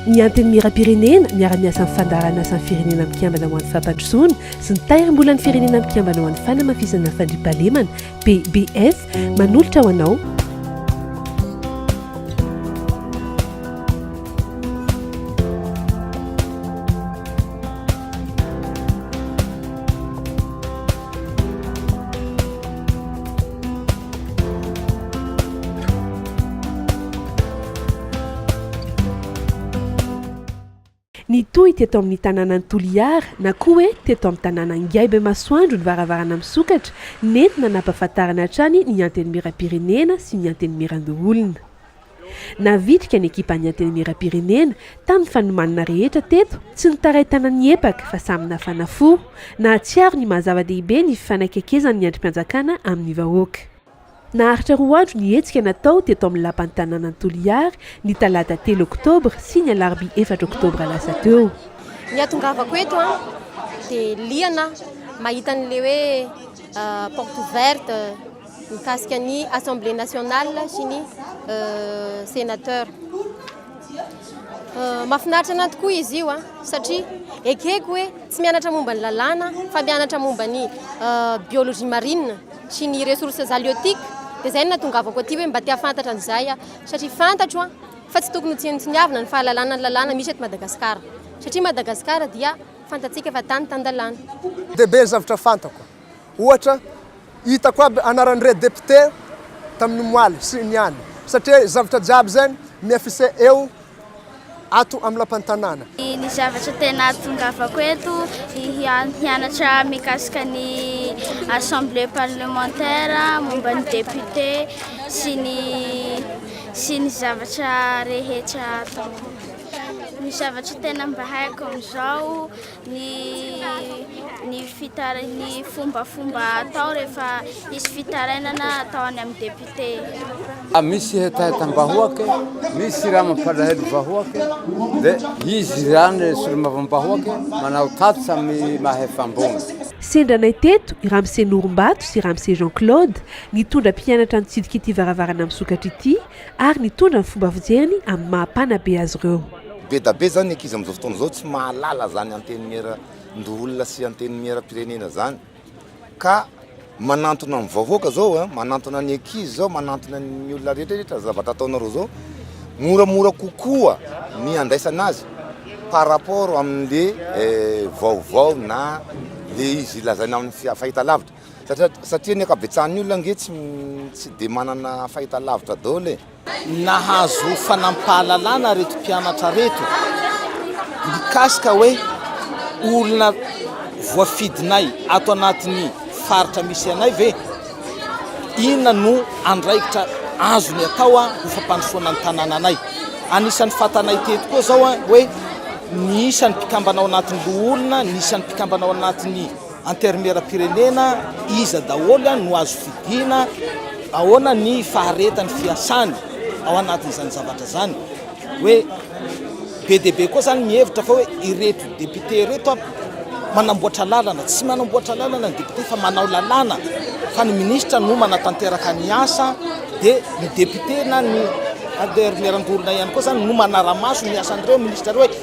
Ny Antenimierampirenena miara-miasa amin'ny Fandaharanasa ny Firenena Mikambana ho an'ny Fampandrosoana sy ny Tahirimbolan'ny Firenena Mikambana ho an'ny Fanamafisana Fandriampahalemana, PBF, manolotra ho anao. Nitohy teto amin'ny tanànan'i Toliara na koa hoe teto amin'ny tanàna Ngaibe Masoandro ny varavarana misokatra nentina nampahafantarana hatrany ny Antenimierampirenena sy ny Antenimierandoholona. Navitrika ny ekipan'ny Antenimierampirenena tamin'ny fanomanana rehetra teto tsy nitaraitana ny epaka fa samy nafana fo. Nahatsiaro ny maha zava-dehibe ny fifanakekezan'ny andrim-panjakana amin'ny vahoaka. Naharitra roa andro ny hetsika natao teto amin'ny lapan'ny tanànan'i Toliary ny talata telo oktobra sy ny alarobia efatra oktobra lasa teo. Ny hahatongavako eto dia liana aho mahita an'ilay hoe porte ouverte. mikasika ny Assemblée nationale sy ny Sénateur. Mahafinaritra anah tokoa izy io an, ah, satria ekeko hoe tsy mianatra momba ny lalàna fa mianatra momba ny euh, biologie marine sy ny ressources halieutiques dia zay no natongavako aty hoe mba te hahafantatra an'izay ah satria fantatro an fa tsy tokony ho tsinotsiniavina ny fahalalana ny lalàna misy eto Madagasikara satria Madagasikara dia fantatsika fa tany tan-dalàna. Dia be ny zavatra fantako. Ohatra, hitako aby anaran'ireo député tamin'ny omaly sy niany satria zavatra jiaby izay mi-affiche eo ato amin'ny lapan'ny tanàna. Ny zavatra tena atongavako eto hianatra mikasika ny assemblée parlementaire momba ny député sy ny sy ny zavatra rehetra ataoko. Ny zavatra tena mba haiko amin'izao. Ny ny fitara- ny fombafomba atao rehefa hisy fitarainana atao any amin'ny député. Misy hetahetam-bahoaka, misy raha mampalahelo ny vahoaka, dia izy izany solombavambahoaka manao tatitra amin'ny maha efa-ambony. Sendra anay teto i Ramse Norimbato sy Ramse Jean Claude, nitondra mpianatra nitsidika ity varavarana misokatra ity, ary nitondra ny fomba fijeriny amin'ny maha mpanabe azy ireo. Bedabe izany ny ankizy amin'izao fotoana izao tsy mahalala izany antenimieran-doholona sy antenimieram-pirenena izany ka manantona ny vahoaka izao, manantona ny ankizy izao, manantona ny olona rehetrarehetra ny zavatra ataonareo izao, moramora kokoa ny andraisana azy par rapport amin'ilay vaovao na ilay izy lazaina amin'ny fahitalavitra. Satria ny ankabetsahan'ny olona ange tsy dia manana fahitalavitra daholo e! Nahazo fanampahalalana reto mpianatra reto mikasika hoe olona voafidinay ato anatin'ny faritra misy anay ve? Inona no andraikitra azony atao ho fampandrosoana ny tanànanay? Anisan'ny fantanay teto koa izao hoe ny isan'ny mpikambana ao anatin'ny loholona, ny isan'ny mpikambana ao anatin'ny Antermieram-pirenena iza daholo no azo fidiana, ahoana ny faharetan'ny fiasany ao anatin'izany zavatra izany? Hoe be dia be koa izany mihevitra fa hoe ireto députés ireto manamboatra lalana, tsy manamboatra lalana ny députés fa manao lalàna, fa ny ministra no manatanteraka ny asa dia ny députés na ny antermieram-borona ihany koa izany no manara-maso ny asan'ireo ministra ireo.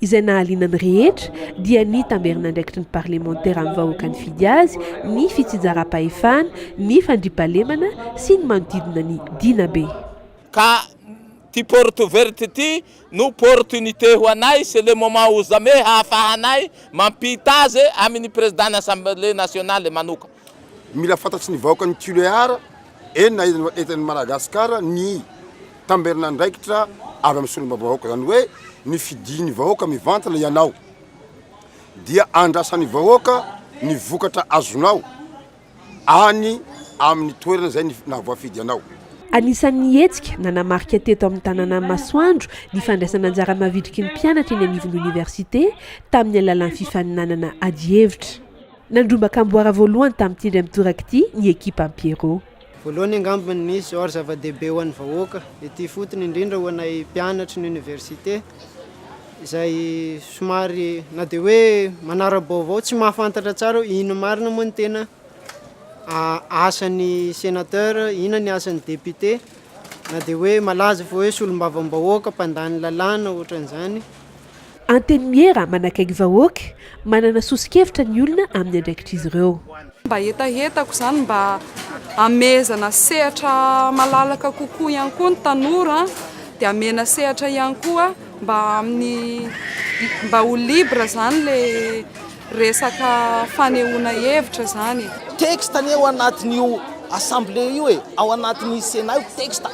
izay nahaliana ny rehetra dia ny tamberin'andraikitry ny parlemantera amin'ny vahoaka nifidy azy, ny fitsijaram-pahefana, ny fandriampahalemana sy ny manodidina ny Dinabe. Ka ty porte ouverte ty no portunite ho anay c'est le moment ou jamais hahafahanay mampitaze aminy president ny assemblée nationale manoka. Mila fantatry ny vahoaka ny Tulear, enina eto any Madagascar, ny tamberin'andraikitra avy amin'ny solombavahoaka. Izany hoe ny fidian'ny vahoaka mivantana ianao dia andrasan'ny vahoaka ny vokatra azonao any amin'ny toerana izay nahavoafidy anao. Anisan'ny hetsika nanamarika teto amin'ny tanànan'i Masoandro ny fandraisana anjara mavitriky ny mpianatra eny anivon'ny oniversite tamin'ny alalan'ny fifaninanana adihevitra. Nandrombaka amboara voalohany tamin'ity indray mitoraka ity ny ekipam Pierrot. Voalohany angamba ny nisy or zava-dehibe ho an'ny vahoaka, ety ifotony indrindra ho anay mpianatry ny oniversite izay somary na dia hoe manara-baovao, tsy mahafantatra tsara hoe inona marina moa ny tena asan'ny senateur, inona ny asan'ny député, na dia hoe malaza fa hoe solombavambahoaka, mpandany lalàna, ohatran'izany. Antenimiera manakaiky vahoaka, manana soso-kevitra ny olona amin'ny andraikitr'izy ireo. Mba hetahetako izany mba hamehezana sehatra malalaka kokoa ihany koa ny tanora dia hamehena sehatra ihany koa mba amin'ny mba ho libre izany ilay Resaka fanehoana hevitra izany e! Texte anie ao anatin'io assemblée io e, ao anatin'ny Sénat io texte.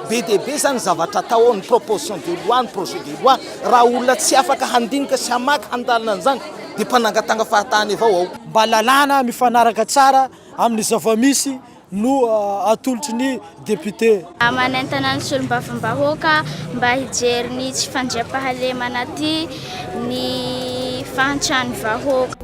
Be dia be izany ny zavatra atao ao, ny proposition de loi, ny projet de loi. Raha olona tsy afaka handinika sy hamaky, handalina an'izany dia mpanangatanga fahatany avao ao. Mba lalàna mifanaraka tsara amin'ny zava-misy no atolotry ny depiote. Manentana ny solombavambahoaka mba hijery ny tsy fandriampahalemana aty ny fahantrany vahoaka.